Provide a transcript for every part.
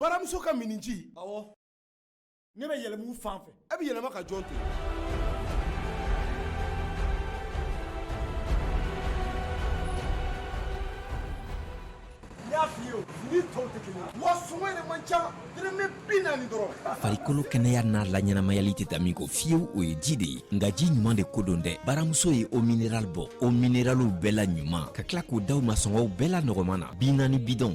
baramuso ka minniji ɔwɔ ne bɛ yɛlɛma o fan fɛ e bɛ yɛlɛma ka jɔn to farikolo kɛnɛya n'a laɲɛnamayali tɛ taa min kɔ fiyewu o ye ji de ye nka ji ɲuman de ko don dɛ baramuso ye eau minérale bɔ eau minéralew bɛɛ la ɲuman ka tila k'o d'aw ma sɔngɔw bɛɛ la nɔgɔman na bi naani bidɔn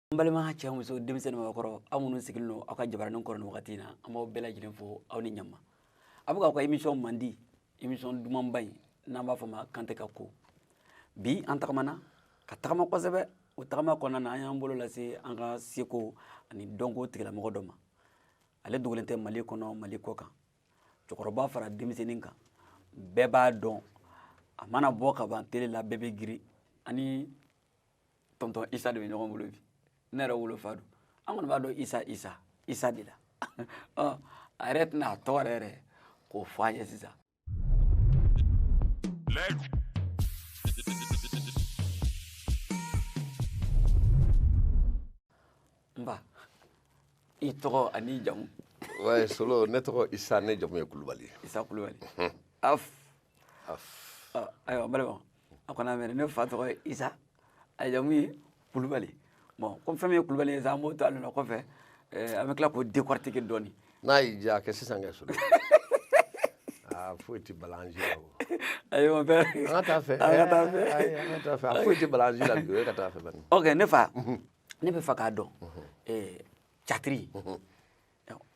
n balima cɛ muso denmisɛnnin mɔgɔkɔrɔ aw minnu sigilen don aw ka jabaranin kɔrɔ nin wagati in na an b'aw bɛɛ lajɛlen fo aw ni ɲama a bɛ k'aw ka émission mandi émission dumanba in n'an b'a fɔ ma kante ka ko bi an tagamana ka tagama kosɛbɛ o tagama kɔnɔna na an y'an bolo lase an ka seko ani dɔnko tigilamɔgɔ dɔ ma ale dogolen tɛ mali kɔnɔ mali kɔkan cɛkɔrɔba fara denmisɛnnin kan bɛɛ b'a dɔn a mana bɔ ka ban tele la bɛɛ bɛ girin an ni tɔntɔn isa de bɛ ɲɔgɔn bolo bi ne yɛrɛ wolofa don an kɔni b'a dɔn isa isa isa de la ɔ a yɛrɛ tɛna a tɔgɔ yɛrɛ yɛrɛ ko fɔ an ye sisan n ba i tɔgɔ ani jamu ouais solo ne tɔgɔ isa ne jamu ye kulubali isa kulubali af af ayiwa n balimaw a kɔni a mɛn ne fa tɔgɔ ye isa a jamu ye kulubali bon comme fɛn min ye kulubali ye sa an b'o to a nɔ na kɔfɛ an bɛ tila k'o décortiquer dɔɔni n'a y'i diya a kɛ sisan kɛ solo aa foyi tɛ balanzi la o ayi mon père an ka taa fɛ a foyi tɛ balanzi la bi o ye ka taa fɛ bani ok ne fa ne b'a fɛ k'a dɔn catiri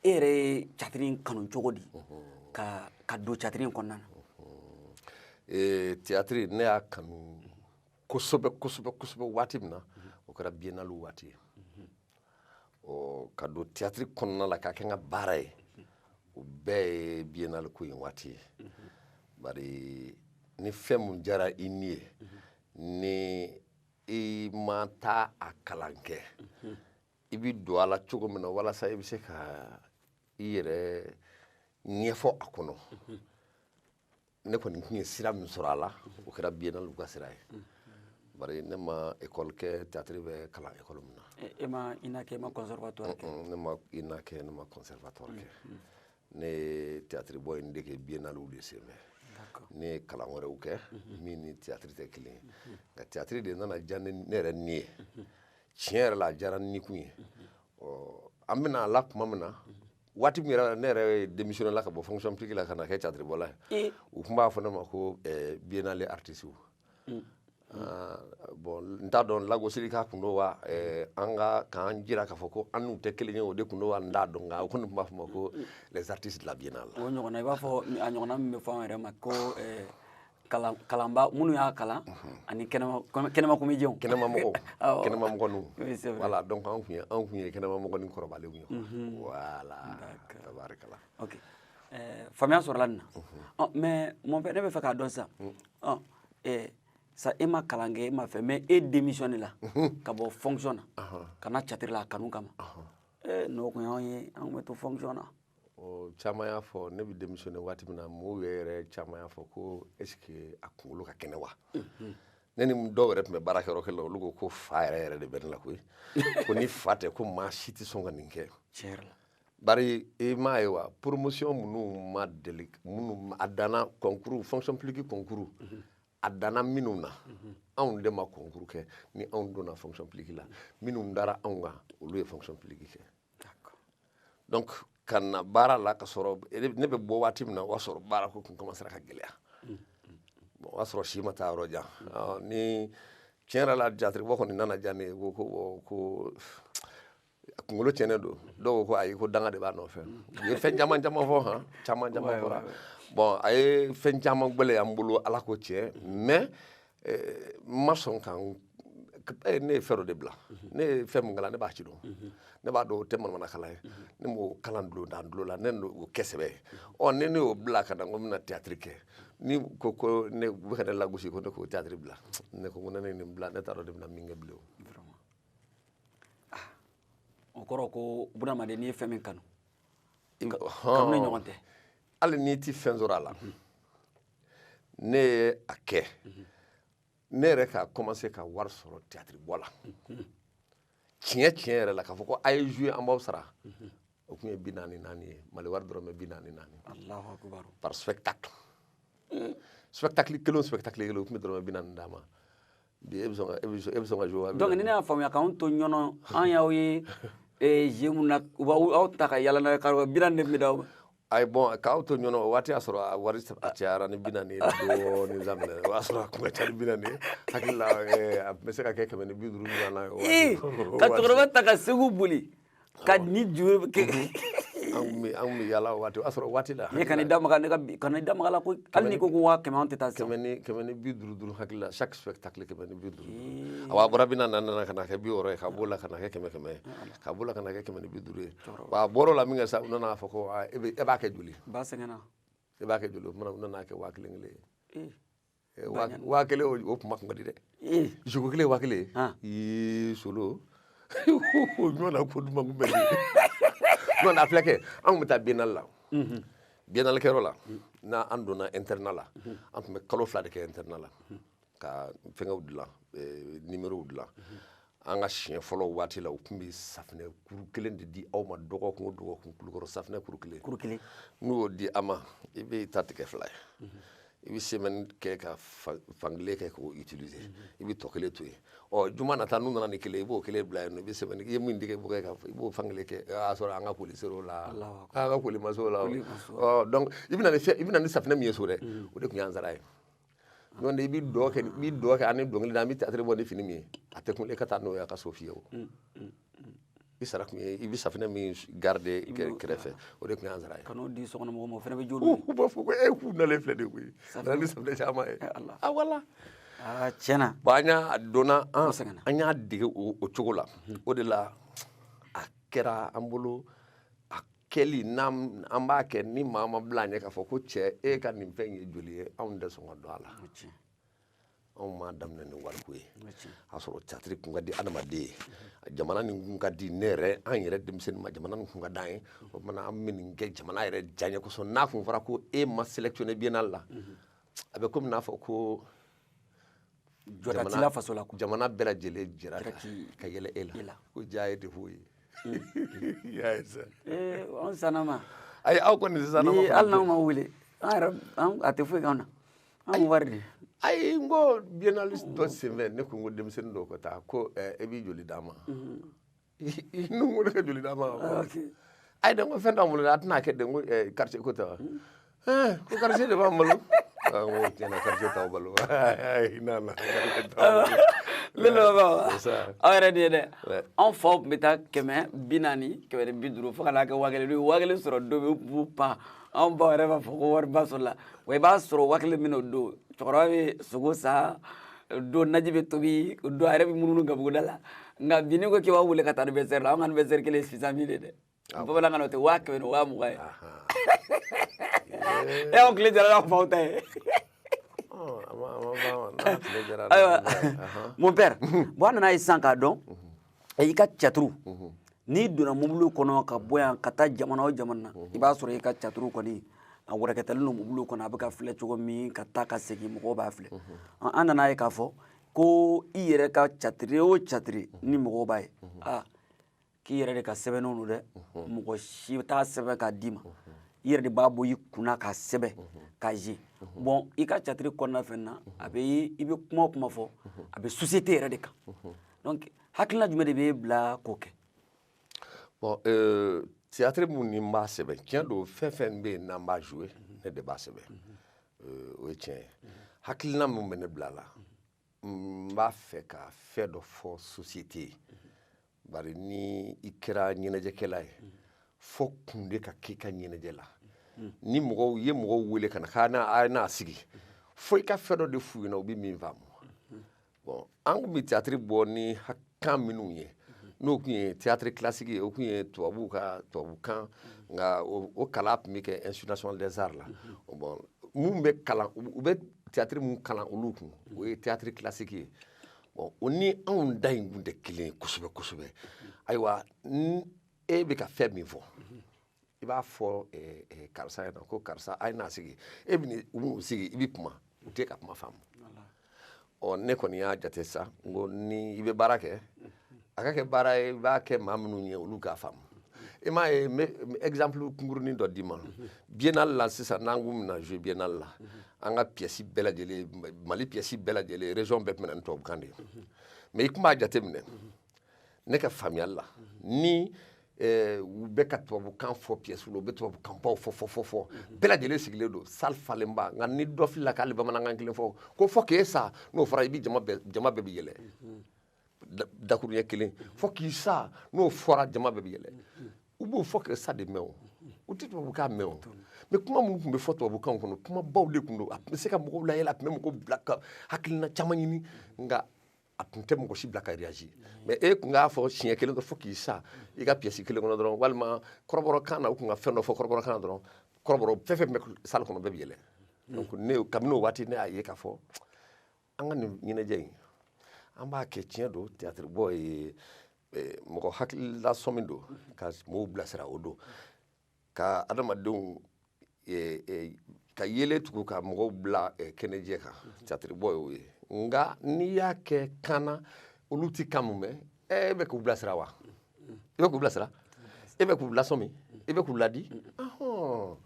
e yɛrɛ ye catiri in kanu cogo di ka don catiri in kɔnɔna na ee théâtre ne y'a kanu kosɛbɛ kosɛbɛ kosɛbɛ waati min na o kɛra biennale waati ye ɔ ka don théâtre kɔnɔna la k'a kɛ n ka baara ye o bɛɛ ye biennale ko in waati ye bari ni fɛn min diyara i ni ye ni i ma taa a kalan kɛ i bɛ don a la cogo min na walasa i bɛ se ka i yɛrɛ ɲɛfɔ a kɔnɔ ne kɔni tun ye sira min sɔrɔ a la o kɛra biennale ka sira ye bari ne ma ekɔli kɛ théâtre bɛ kalan ekɔli min na e ma ina kɛ e ma conservatoire kɛ ne ma ina kɛ ne ma conservatoire kɛ ne ye théâtre bɔ in dege biennale de senfɛ ne ye kalan wɛrɛw kɛ min ni théâtre tɛ kelen ye nka théâtre de nana diya ne yɛrɛ ni ye tiɲɛ yɛrɛ la a diyara ni kun ye ɔ an bɛ na a la tuma min na waati min yɛrɛ ne yɛrɛ démissionne la ka bɔ fonction publique la ka na kɛ catiribɔla ye u tun b'a fɔ ne ma ko eh, biennale artisiw mm. ah, bon n t'a dɔn lagosilikan kun don wa eh, an ka k'a jira k'a fɔ ko an n'u tɛ kelen ye o de kun don wa n t'a dɔn nka u kɔni tun b'a fɔ an ma ko les artistes de la biennale o ɲɔgɔnna i b'a fɔ a ɲɔgɔnna min bɛ fɔ an yɛrɛ ma ko eh, kalan kalanba minnu y'a kalan ani kɛnɛma kɔmi- kɛnɛma comédienw kɛnɛma mɔgɔw Awɔ. kɛnɛma mɔgɔninw Oui, c'est vrai. voilà donc anw tun ye anw tun ye kɛnɛma mɔgɔnin kɔrɔbalenw ye voilà tabarikala ok Eh, faamuya sɔrɔla nin na Ɔ, mais mon père ne b'a fɛ k'a dɔn sisan Ɔ, eh, sa e ma kalan kɛ e ma fɛ mais e démissionne la ka bɔ fonction na ka na catiri la a kanu kama Eh, n'o tun y'anw ye an tun bɛ to fonction na ɔ caman y'a fɔ ne bɛ démissionner waati min na mɔgɔw yɛrɛ caman y'a fɔ ko est-ce que a kunkolo ka kɛnɛ wa ne ni dɔw yɛrɛ tun bɛ baara kɛ yɔrɔ kelen olu ko ko fa yɛrɛ yɛrɛ de bɛ ne la koyi ko ni fa tɛ ko maa si tɛ sɔn ka nin kɛ bari i m'a ye wa promotion minnu ma deli minnu a danna concours fonction publique concours a danna minnu na anw de ma concours kɛ ni anw donna fonction publique la minnu dara anw kan olu ye fonction publique kɛ donc ka na baara la ka sɔrɔ ne bɛ bɔ waati min na o y'a sɔrɔ baara ko tun commencera ka gɛlɛya bon o y'a sɔrɔ si ma taa yɔrɔ jan ni tiɲɛ yɛrɛ la catiribɔ kɔni nana diya ne ye ko ko ko kunkolo tiɲɛnen don dɔw ko ko ayi ko danga de b'a nɔfɛ u ye fɛn caman caman fɔ han caman caman fɔra bon a ye fɛn caman gɛlɛy'an bolo ala ko tiɲɛ mais ma sɔn kan eh, ne ye fɛn dɔ de bila ne ye fɛn min kalan ne b'a ci dɔn ne b'a dɔn o tɛ manamana kalan ye ne m'o kalan dulon dan dulo la ne y'o kɛ sɛbɛ ye ɔ ni ne y'o bila ka na ko n bɛna tiyatiri kɛ ni ko ko ne u bɛ ka ne lagosi ko ne k'o tiyatiri bila ne ko ko ni ne ye nin bila ne t'a dɔn ne bɛna min kɛ bilen ah, o kɔrɔ ko bunahadamaden n'i ye fɛn min kanu kanuni ɲɔgɔn tɛ hali n'i tɛ fɛn sɔrɔ a la ne ye a kɛ ne yɛrɛ ka commencer ka wari sɔrɔ tiyatiri bɔ la tiɲɛ tiɲɛ yɛrɛ la k'a fɔ ko a ye jouer an b'aw sara o tun ye bi naani naani ye mali wari dɔrɔmɛ bi naani naani par spectacle spectacle kelen o spectacle kelen u tun bɛ dɔrɔmɛ bi naani d'an ma bi e bɛ sɔn ka e bɛ sɔn e bɛ sɔn ka jouer donc ni ne y'a faamuya k'aw to ɲɔnɔ an y'aw ye ee je mun na u b'aw aw ta ka yaala n'a ye k'a bi naani de tun bɛ d'aw ma ayi bon k'an to ɲɔnɔ o waati y'a sɔrɔ a wari a cayara ni bi naani ye dɔɔni daminɛ o y'a sɔrɔ a kun ka ca ni bi naani ye hakili la a tun bɛ se ka kɛ kɛmɛ ni bi duuru ɲɔgɔnna ye ka cɛkɔrɔba ta ka segu boli ka ni juru ke mhm. an bɛ yala waati o y'a sɔrɔ waati la ne kana i da maga ne ka kana i da maga la ko hali n'i ko ko waa kɛmɛ an tɛ taa kɛmɛ ni kɛmɛ ni bi duuru duuru hakili la chaque spectacle kɛmɛ ni bi duuru awa a bɔra bi naani na ka na kɛ bi wɔɔrɔ ye ka b'o la ka na kɛ kɛmɛ kɛmɛ ye ka b'o la ka na kɛ kɛmɛ ni bi duuru ye wa a bɔr'o la min kɛ sa u nana fɔ ko e b'a kɛ joli ba sɛgɛnna e b'a kɛ joli o tuma u nana kɛ waa kelen kelen ye Eh, waa waa kelen o- o kuma kun ka di dɛ Eh, jɔko kelen waa kelen Ah. ii solo o ɲɔgɔn na ko duman kun bɛ ɲɔgɔn na filɛ kɛ an tun bɛ taa biennale la biennale kɛyɔrɔ la n'an donna internat la an tun bɛ kalo fila de kɛ internat la ka fɛngɛw dilan eh, numérow dilan an ka siɲɛ fɔlɔ waati la u tun bɛ safinɛ kuru kelen de di aw ma dɔgɔkun o dɔgɔkun Kulukɔrɔ safinɛ kuru kelen kuru kelen n'u y'o di a ma i bɛ t'a tigɛ fila ye i bɛ semaine kɛ ka fankelen kɛ k'o utiliser i bɛ tɔ kelen to yen ɔ juma nata n'u nana ni kelen i b'o kelen bila yen nɔ i bɛ semaine i ye min tigɛ i b'o kɛ ka i b'o fankelen kɛ o y'a sɔrɔ an ka koli ser'o la an ka koli ma s'o la ɔ donc i bɛ na ni fɛn i bɛ na ni safinɛ min ye so dɛ o de tun y'an sara ye n'o tɛ i bɛ dɔn kɛ i bɛ dɔn kɛ ani dɔnkili da an bɛ théâtre bɔ ni fini min ye a tɛ kun e ka taa n'o ye a ka so fiyewu mm, mm, mm. i sara kun ye i bɛ safinɛ min garder kɛrɛfɛ o de tun y'an sara ye ka n'o di sokɔnɔmɔgɔw ma o fana bɛ joli u b'a fɔ ko e k'u nalen filɛ de koyi a nana ni safinɛ caman ye a wala tiɲɛ na bon an y'a donna an y'a dege o cogo la o de la a kɛra an bolo a kɛli n'an an b'a kɛ ni maa ma bila an ɲɛ k'a fɔ ko cɛ e ka nin fɛn ye joli ye anw tɛ sɔn ka don a la anw m'a daminɛ ni wariko ye a sɔrɔ théâtre kun ka di adamaden ye jamana nin kun ka di ne yɛrɛ an yɛrɛ denmisɛnninma jamana nin kun ka d'an ye o tuma na an bɛ nin kɛ jamana yɛrɛ diyaɲɛ kosɔn n'a kun fɔra ko e ma sélectionné biennale la a bɛ komi n'a fɔ ko jɔda t'i la faso la quoi jamana bɛɛ lajɛlen jɛra ka ka yɛlɛ e la ko jaa e tɛ foyi ye y'a ye sa ee anw sanama ayi aw kɔni tɛ sanama ni hali n'anw ma wele an yɛrɛ an- a tɛ foyi k'an na an bɛ wari de ayi n ko biennale dɔ senfɛ ne ko n ko denmisɛnnin dɔw ka taa ko eh, e bɛ joli d'an ma n'u ko ne ka joli d'a ma ah, ayi dɛ n ko fɛn t'an bolo dɛ a tɛna kɛ dɛ n ko quartier ko tɛ wa ko quartier de b'an balo n ko tiɲɛ na quartier t'aw balo i n'a na ne lamɛnbagaw aw yɛrɛ de ye dɛ anw faw tun bɛ taa kɛmɛ bi naani kɛmɛ ni bi duuru fo ka n'a kɛ waa kelen n'u ye waa kelen sɔrɔ don min u b'u pan anw baw yɛrɛ b'a fɔ ko wariba sɔrɔla wa i b'a sɔrɔ waa kelen min o don cɛkɔrɔba bɛ sogo san o don naji bɛ tobi o don a yɛrɛ bɛ munumunu gabuguda la nka bi n'i ko k'i b'a wele ka taa anniversaire la an ka anniversaire kelen ye six cent mille ye dɛ bamanankan na o tɛ waa kɛmɛ ni waa mugan ye e y'aw tile diyara n'aw faw ta ye ayiwa mon père bon an nan'a ye sisan k'a dɔn i ka théâtre n'i donna mobili kɔnɔ ka bɔ yan ka taa jamana o jamana na i b'a sɔrɔ i ka théâtre kɔni a wɛrɛkɛtalen don mobili kɔnɔ a bɛ ka filɛ cogo min ka taa ka segin mɔgɔw b'a filɛ an nan'a ye k'a fɔ ko i yɛrɛ ka tiyatiri o tiyatiri ni mɔgɔw b'a ye aa k'i yɛrɛ de ka sɛbɛnnenw don dɛ mɔgɔ si t'a sɛbɛn k'a d'i ma i yɛrɛ de b'a bɔ i kunna k'a sɛbɛn k'a ye bɔn i ka tiyatiri kɔnɔna fɛn na a bɛ i bɛ kuma o kuma fɔ a bɛ sosiyete yɛrɛ de kan donc hakilina jumɛn de b'e bila k'o kɛ bon théâtre mun ni n b'a sɛbɛn tiɲɛ don fɛn fɛn bɛ yen n'an b'a jouer ne de b'a sɛbɛn euh, o ye tiɲɛ ye hakilina min bɛ ne bila la n b'a fɛ ka fɛn dɔ fɔ société ye bari ni i kɛra ɲɛnajɛkɛla ye fo kun de ka k'i ka ɲɛnajɛ la ni mɔgɔw ye mɔgɔw wele ka na k'a n'a a n'a sigi fo i ka fɛn dɔ de f'u ɲɛna u bɛ min faamu bɔn an tun bɛ tiyatiri bɔ ni kan minnu ye n'o tun ye tiyatiri kilasiki ye o tun ye tubabuw ka tubabukan nka o kalan tun bɛ kɛ institut national des arts la bɔn minnu bɛ kalan u bɛ tiyatiri minnu kalan olu kun o ye tiyatiri kilasiki ye bɔn o ni anw ta in tun tɛ kelen ye kosɛbɛ kosɛbɛ ayiwa e bɛ ka fɛn min fɔ i b'a fɔ karisa a ye na ko karisa a ye n'a sigi e bɛ u bɛ n'u sigi i bɛ kuma u tɛ ka kuma faamu ɔ ne kɔni y'a jate sa n ko ni i bɛ baara kɛ a ka kɛ baara ye i b'a kɛ maa minnu ye olu k'a faamu i m'a ye n bɛ exemple kunkurunin dɔ d'i ma biennale la sisan n'an kun bɛna jouer biennale la an ka pièce bɛɛ lajɛlen mali pièce bɛɛ lajɛlen région bɛɛ tun bɛ na ni tubabukan de ye mais i tun b'a jateminɛ ne ka faamuyali la ni eh, u bɛ ka tubabukan fɔ piyɛsiw la u bɛ tubabukanbaw fɔ fɔ fɔ fɔ bɛɛ lajɛlen sigilen don sali falenba nka ni dɔ filila k'ali bamanankan kelen fɔ ko fo k'e sa n'o fɔra i bɛ jama bɛɛ jama bɛɛ bɛ yɛlɛ da- dakuruɲɛ kelen fo k'i sa n'o fɔra jama bɛɛ bɛ yɛlɛ u b'o fo k'e sa de mɛn o u tɛ tubabukan mɛn o mɛ kuma minnu tun bɛ fɔ tubabukanw kɔnɔ kumabaw de tun don a tun bɛ se ka mɔgɔw layɛlɛ a tun bɛ mɔgɔw bila ka hakilina caman ɲini nka a tun tɛ mɔgɔ si bila ka réagir mais e tun k'a fɔ siɲɛ kelen dɔrɔn fo k'i sa i ka pièce kelen kɔnɔ dɔrɔn walima kɔrɔbɔrɔkan na u tun ka fɛn dɔ fɔ kɔrɔbɔrɔkan na dɔrɔn kɔrɔbɔrɔ fɛn fɛn bɛ salle kɔnɔ bɛɛ bɛ yɛlɛ donc ne kabini o waati ne y'a ye k'a fɔ an ka nin ɲɛnajɛ in an b'a kɛ tiɲɛ don théâtre bɔ ye mɔgɔ hakililasɔn min don ka mɔgɔw bilasira o don ka adamadenw eh, eh, ka yeelen tugu ka mɔgɔw bila eh, kɛnɛjɛ kan catiribɔ y'o ye nka n'i y'a kɛ kan na olu ti kan mun mɛn eh, e bɛ k'u bilasira wa i bɛ k'u bilasira e bɛ k'u lasɔmi i bɛ k'u ladi ahɔn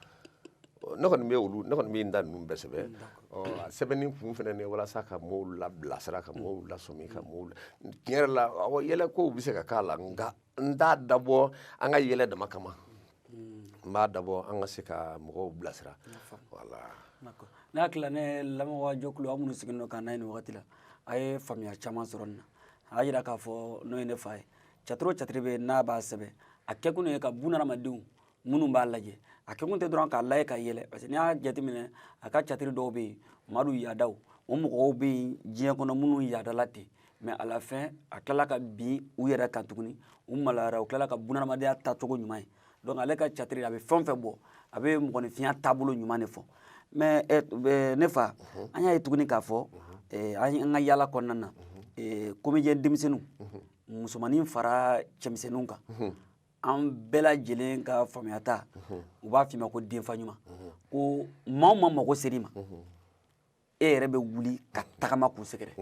ne kɔni bɛ olu ne kɔni bɛ n ta ninnu bɛɛ sɛbɛn ɔ a sɛbɛnni kun fana ye walasa ka mɔɔw labilasira ka mɔɔw lasɔmi ka mɔɔw la tiɲɛ yɛrɛ la awɔ yɛlɛkow bɛ se ka k'a la nka n t'a dabɔ an ka yɛlɛ dama kama n b'a dabɔ an ka se ka mɔgɔw bilasira voilà ne hakili la ne lamɛnbaa jɛkulu aw minnu sigilen don k'an lajɛ nin wagati la a ye faamuya caman sɔrɔ nin na a y'a jira k'a fɔ n'o ye ne fa ye catiri o catiri bɛ yen n'a b'a sɛbɛn a kɛkun ye ka bunahadamadenw minnu b'a lajɛ a kɛkun tɛ dɔrɔn k'a lajɛ ka yɛlɛ parce que n'i y'a jateminɛ a ka catiri dɔw bɛ yen madu yaadaw o mɔgɔw bɛ yen diɲɛ kɔnɔ minnu yaadala ten mais à la fin a tilala ka bin u yɛrɛ kan tuguni u maloyara u tilala ka bunadamadenya taacogo ɲuman ye donc ale ka catiri a bɛ fɛn o fɛn bɔ a bɛ mɔgɔninfinya taabolo ɲuman de fɔ mais eh, eh, ne fa mhm. an y'a ye tuguni k'a fɔ mhm. eh, an ka yaala kɔnɔna na comédien mhm. denmisɛnninw musomanin fara cɛmisɛnninw kan an bɛɛ lajɛlen ka faamuyata u b'a f'i ma ko denfa ɲuman ko maa o maa mago ser'i ma e yɛrɛ bɛ wuli ka tagama k'u sɛgɛrɛ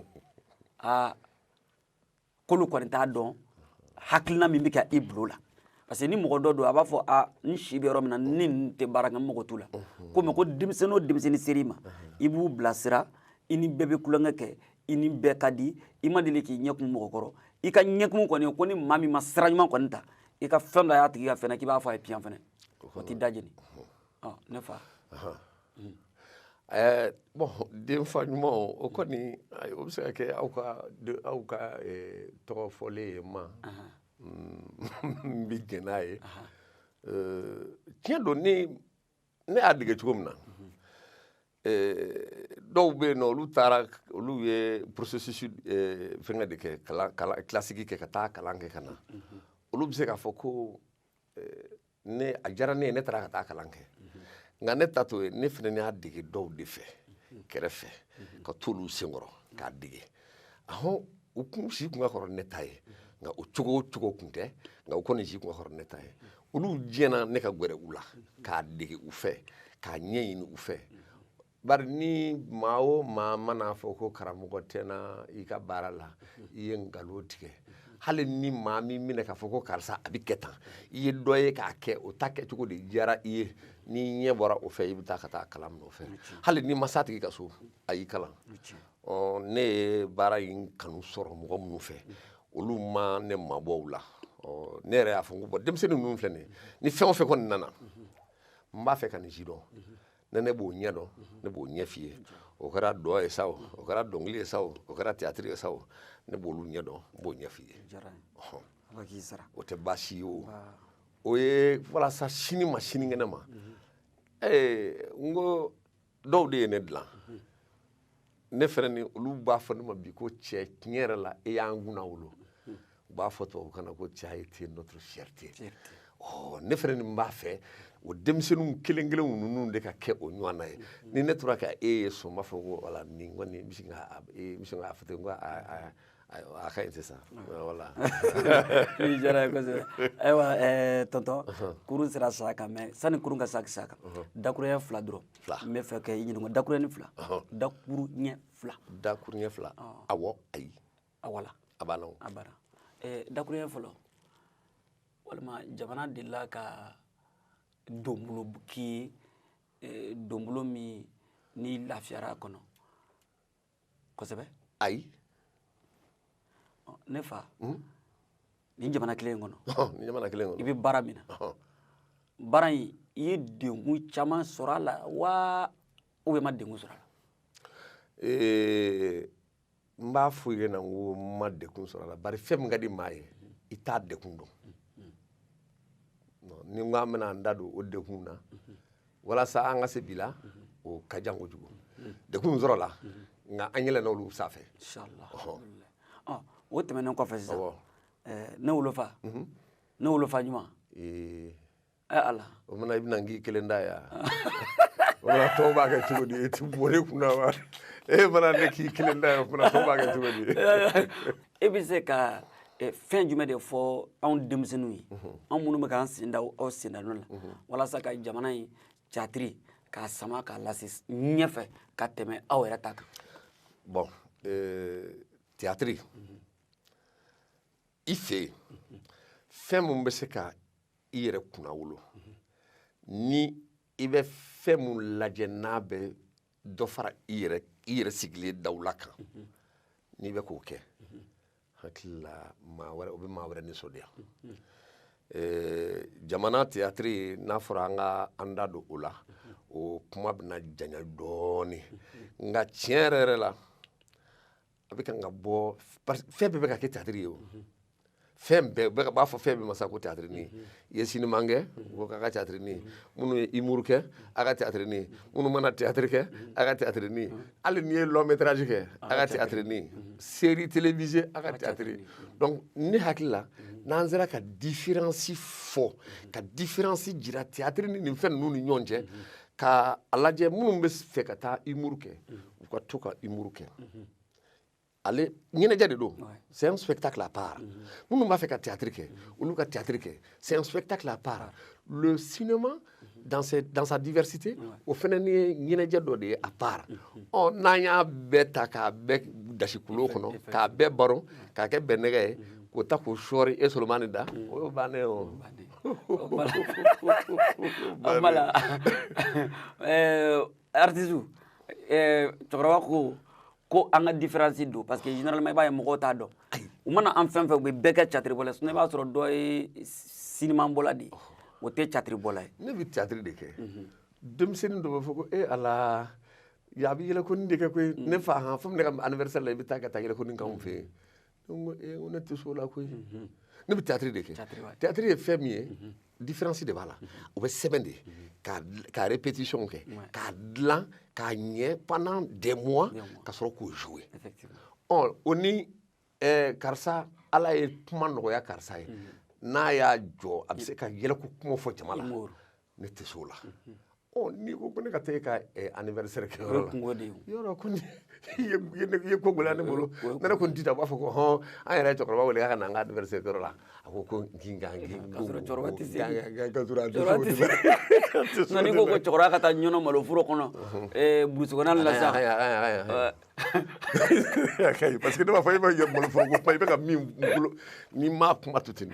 aa k'olu kɔni t'a dɔn hakilina min bɛ kɛ i bolo la parce que ni mɔgɔ dɔ don a b'a fɔ a n si bɛ yɔrɔ min na ni n tɛ baara kɛ n mago t'u la komi ko denmisɛnnin o denmisɛnnin ser'i ma i b'u bilasira i ni bɛɛ bɛ tulonkɛ kɛ i ni bɛɛ ka di i ma deli k'i ɲɛ kumu mɔgɔ kɔrɔ i ka ɲɛkumu kɔni ko ni maa min ma sira ɲuman kɔni ta i ka fɛn dɔ y'a tigi kan fɛnɛ k'i b'a fɔ a ye piyan fɛnɛ o t'i da jeni ne fa ɛɛ bon denfa ɲuman o kɔni o bɛ se ka kɛ aw ka aw ka tɔgɔ fɔlen ye ma n bɛ jɛn n'a ye tiɲɛ don ne ne y'a dege cogo min na eh, dɔw bɛ yen nɔ olu taara olu ye processus eh, fɛngɛ de kɛ kalan kalan classique kɛ ka taa kalan kɛ ka na olu bɛ se k'a fɔ ko eh, ne a diyara ne ye ne taara ka taa kalan kɛ nka ne ta t'o ye ne fana y'a dege dɔw de fɛ kɛrɛfɛ ka t'olu senkɔrɔ k'a dege ahɔn u kun si kun ka kɔrɔ ne ta ye nka o cogo o cogo kun tɛ nka u kɔni si kun ka kɔrɔ ne ta ye olu diɲɛna ne ka gɛrɛ u la k'a dege u fɛ k'a ɲɛɲini u fɛ bari ni maa o maa man'a fɔ ko karamɔgɔ tɛ n na i ka baara la i ye nkalon tigɛ hali ni maa m'i minɛ k'a fɔ ko karisa a bɛ kɛ tan i ye dɔ ye k'a kɛ o ta kɛcogo de diyara i ye n'i ɲɛ bɔra o fɛ i bɛ taa ka taa kalan minɛ o fɛ hali n'i ma s'a tigi ka so a y'i kalan ne ye baara in kanu sɔrɔ mɔgɔ minnu fɛ olu ma ne mabɔ u la ne yɛrɛ y'a fɔ ko bɔn denmisɛnnin ninnu filɛ nin ni fɛn o fɛn kɔni nana n b'a fɛ ka nin sidɔn ne b'o ɲɛ dɔn ne b'o ɲɛ f'i ye o kɛra dɔn ye sa o o kɛra dɔnkili ye sa o o kɛra tiyatiri ye sa o ne b'olu ɲɛ dɔn n b'o ɲɛ f'i ye o tɛ baasi ye o o ye walasa sini ma sinikɛnɛ ma ee n ko dɔw de ye ne dilan ne fɛnɛ ni olu b'a fɔ ne ma bi ko cɛ tiɲɛ yɛrɛ la e y'an kunnawolo u b'a fɔ tubabukan na ko tu as été notre fierté ɔ ne fɛnɛ nin b'a fɛ o denmisɛnninw kelen kelen ninnu de ka kɛ o ɲɔgɔnna ye ni ne tora ka e ye so n b'a fɔ ko wala nin kɔni n bɛ sin ka e bɛ sin k'a fɔ ten ko a ayiwa a ka ɲi sisan wala i diyara n ye kosɛbɛ ayiwa tɔntɔn kurun sera sa kan mɛ sani kurun ka sa sa kan dakuruɲɛ fila dɔrɔn n b'a fɛ ka i ɲininka dakuruɲɛ fila dakuruɲɛ fila dakuruɲɛ fila awɔ ayi awɔ la a b'a la a b'a la dakuruɲɛ fɔlɔ walima jamana delila ka donbolo k'i ye donbolo min n'i lafiyara a kɔnɔ kosɛbɛ ayi ne fa hmm? nin jamana kelen kɔnɔ nin jamana kelen kɔnɔ i bɛ baara min na baara in i ye degun caman sɔrɔ a la wa ou bien i ma degun sɔrɔ a la ee n b'a fɔ i ɲɛ na n ko n ma degun sɔrɔ a la bari fɛn min ka di maa ye i t'a degun dɔn ni n ko an bɛna an da don o degun na walasa an ka se bi la o ka jan kojugu degun sɔrɔla nka an yɛlɛnna olu sanfɛ o tɛmɛnen kɔfɛ sisan ne wolofa mhm. ne wolofa ɲuman ee ala fofana i bɛna n k'i kelen ta ye fofana tɔw b'a kɛ cogo di e ti bɔ ne kunna wa e mana ne k'i kelen ta ye fofana tɔw b'a kɛ cogo di e bɛ se ka eh, fɛn jumɛn de fɔ anw denmisɛnninw ye mhm. anw minnu bɛ k'an sen da aw sendanɔ la mhm. walasa ka jamana in tiyatiri k'a sama k'a lase ɲɛfɛ ka tɛmɛ aw yɛrɛ ta kan bɔn eh, tiyatiri mhm. i fɛ yen fɛn minnu bɛ se ka i yɛrɛ kunnawolo ni i bɛ fɛn minnu lajɛ n'a bɛ dɔ fara i yɛrɛ sigilen dawula kan n'i bɛ k'o kɛ hakili la maa wɛrɛ o bɛ maa wɛrɛ nisɔndiya jamana tiyatiri n'a fɔra an ka an da don o la o kuma bɛna janya dɔɔnin nka tiɲɛ yɛrɛ yɛrɛ la a bɛ kan ka bɔ fɛn bɛɛ bɛ ka kɛ tiyatiri ye o fɛn bɛɛ b'a fɔ fɛn bɛɛ ma sa ko tiyatiri n'i ye cinéma kɛ ko k'a ka tiyatirini minnu ye humour kɛ a ka tiyatirini minnu mana tiyatiri kɛ a ka tiyatirini hali n'i ye long métrage kɛ a ka tiyatirini série télévisée a ka tiyatiri donc ne hakili la n'an sera ka différence fɔ ka différence jira tiyatiri ni nin fɛn ninnu ni ɲɔgɔn cɛ ka a lajɛ minnu bɛ fɛ ka taa humour kɛ u ka to ka humour kɛ ale ɲɛnajɛ de don c'est un spectacle à part minnu b'a fɛ ka théâtre kɛ olu ka théâtre kɛ c'est un spectacle à part le cinéma dans sa diversité o fana ni ye ɲɛnajɛ dɔ de ye à part ɔ n'an y'a bɛɛ ta k'a bɛɛ dasi kulo kɔnɔ k'a bɛɛ baro k'a kɛ bɛnnɛgɛ ye k'o ta k'o sɔɔri e solomani da o y'o bannen ye o bala artiste cɛkɔrɔba ko ko an ka différence don parce que généralement i b'a ye mɔgɔw t'a dɔn u mana an fɛn fɛn u bɛ bɛɛ kɛ catiribɔla ye sinon i b'a sɔrɔ dɔ ye sinimabɔla de ye o tɛ catiribɔla ye ne bɛ catiri de kɛ denmisɛnnin dɔ b'a fɔ ko e ala ya a bɛ yɛlɛkoni de kɛ koyi ne fa han fo ne ka anniversaire la i bɛ taa ka taa yɛlɛkoni k'anw fɛ yen eh, ne tɛ s'o la koyi ne bɛ théâtre de kɛ théâtre ye fɛn min ye différence de b'a la o bɛ sɛbɛn de ka ka répétition kɛ k'a dilan k'a ɲɛ pendant des mois ka sɔrɔ k'o jouer ɔ o ni eh, karisa ala ye kuma nɔgɔya karisa ye n'a y'a jɔ a bɛ se ka yɛlɛko kuma fɔ jama la ne tɛ se o la ɔ n'i ko ko ne ka taa e ka anniversaire kɛ yɔrɔ la kungo de ye yɔrɔ ko ni i ye ko gɛlɛya ne bolo ne ko n ti taa b'a fɔ ko hɔn an yɛrɛ ye cɛkɔrɔba wele k'a ka na an ka anniversaire kɛ yɔrɔ la a ko ko kin kan kin ka sɔrɔ cɛkɔrɔba tɛ se ka sɔrɔ a tɛ se nka n'i ko ko cɛkɔrɔba ka taa ɲɔnɔ malo foro kɔnɔ burusi kɔnɔna la sa parce que ne b'a fɔ e bɛ malo foro ko kuma i bɛ ka min bolo n'i m'a kuma to ten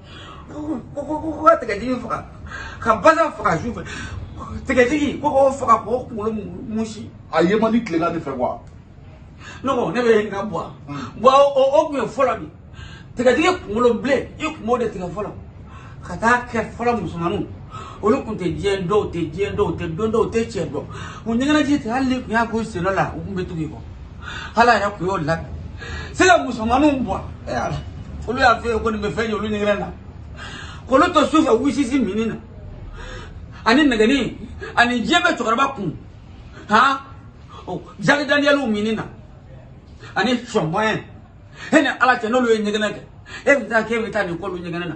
ko ko ko ka tigɛtigi faga ka basa faga su fɛ tigɛtigi ko k'o faga k'o kunkolo musi a ye man di tilegan de fɛ wa ne ko ne bɛ n ka bɔ wa o o tun ye fɔlɔ de tigɛtigi kunkolo bilen i kun b'o de tigɛ fɔlɔ ka taa kɛ fɔlɔ musomaninw olu kun tɛ diɲɛ dɔw tɛ diɲɛ dɔw tɛ don dɔw tɛ cɛ dɔn u ɲɛgɛnɛji tɛ hali ni kun y'a k'u sen dɔ la u kun bɛ tugu i kɔ ala yɛrɛ kun y'o labɛn se ka musomaninw bɔ e y'a la olu y'a fɔ e ye ko nin bɛ fɛn ye olu ɲɛgɛnɛ na k'olu to su fɛ whisky minni na ani nɛgɛnin ani diɲɛ bɛ cɛkɔrɔba kun han o jaki daniyɛliw minni na ani champagne e ni ala cɛ n'olu ye ɲɛgɛnɛ kɛ e bɛ taa k'e bɛ taa nin k'olu ɲɛgɛnɛ na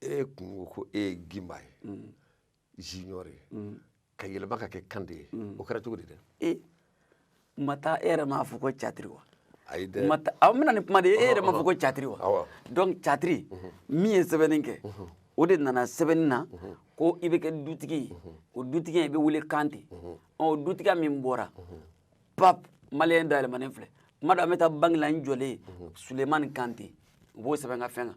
e kun ko ko e ye gimba ye junior ye ka yɛlɛma ka kɛ kante ye o kɛra cogo di dɛ e ma taa e yɛrɛ m'a fɔ ko catiri wa ayi dɛ ma taa aw bɛna ni kuma de ye e yɛrɛ m'a fɔ ko catiri wa Awɔ. donc catiri min ye sɛbɛnni kɛ o de nana sɛbɛnni na ko i bɛ kɛ dutigi ye o dutigi i bɛ wele kante ɔ o dutigiya min bɔra pap maliyɛn dayɛlɛmanen filɛ kuma dɔ an bɛ taa banki la n jɔlen sulemani kante u b'o sɛbɛn ka fɛn kan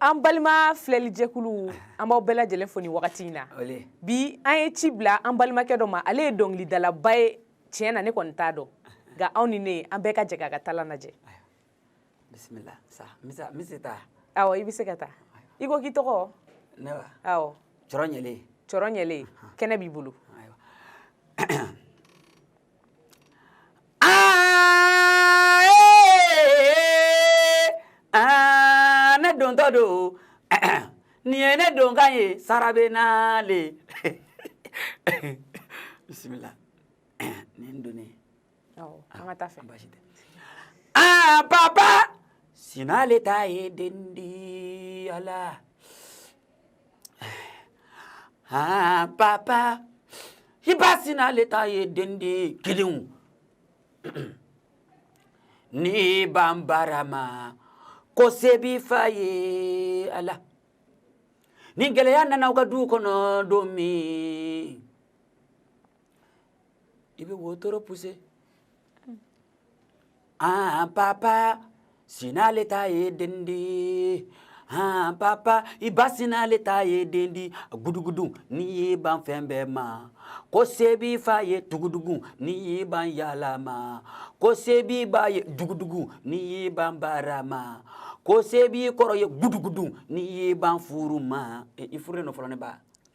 An balima filɛlijɛkulu an b'aw bɛɛ lajɛlen fo nin wagati in na bi an ye ci bila an balimakɛ dɔ ma ale ye dɔnkilidalaba ye tiɲɛ na ne kɔni t'a dɔn nka anw ni ne an bɛɛ ka jɛ k'a ka talan lajɛ i bɛ se ka taa i ko k'i tɔgɔ cɔrɔ ɲɛlen cɔrɔ ɲɛlen kɛnɛ b'i bolo ne dontɔ don nin ye ne donkan ye sara bɛ na le bisimila nin don aa papa sina le ta ye den di ala aa papa i ba sina le ta ye den di kelen n'i ban baara ma ko se b'i fa ye ala ni gɛlɛya nana aw ka du kɔnɔ don min i bɛ wotoro puse an papa sina le ta ye den di han papa i ba sina le ta ye den di gudugudu n'i y'i ban fɛn bɛɛ ma ko se b'i fa ye dugudugu n'i y'i ban yaala ma ko se b'i ba ye dugudugu n'i y'i ban baara ma ko se b'i kɔrɔ ye gudugudu n'i y'i ban furu ma e, i furulen don fɔlɔ ne ba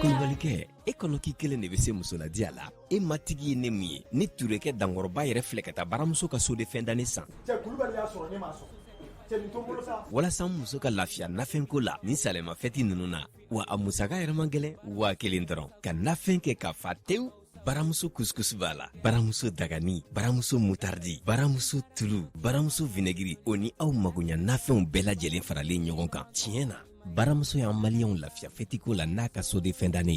kulubalikɛ e kɔnɔ k'i kelen de bɛ se musoladiya la e matigi ye ne min ye ne turekɛ dankɔrɔba yɛrɛ filɛ ka taa baramuso ka seau de fin d'année san walasa n muso ka lafiya nafɛnko la nin sanyɛlɛmafɛti ninnu na wa a musaka yɛrɛ man gɛlɛn waa kelen dɔrɔn ka nafɛn kɛ k'a fa tewu baramuso kuskus b'a la baramuso dagani baramuso mutardi baramuso tulu baramuso vinɛgiri o ni aw magoɲɛ nafɛnw bɛɛ lajɛlen faralen ɲɔgɔn kan tiɲɛ na baramuso y'an maliyɛnw lafiya fɛtiko la n'a ka seau de fin d'année ye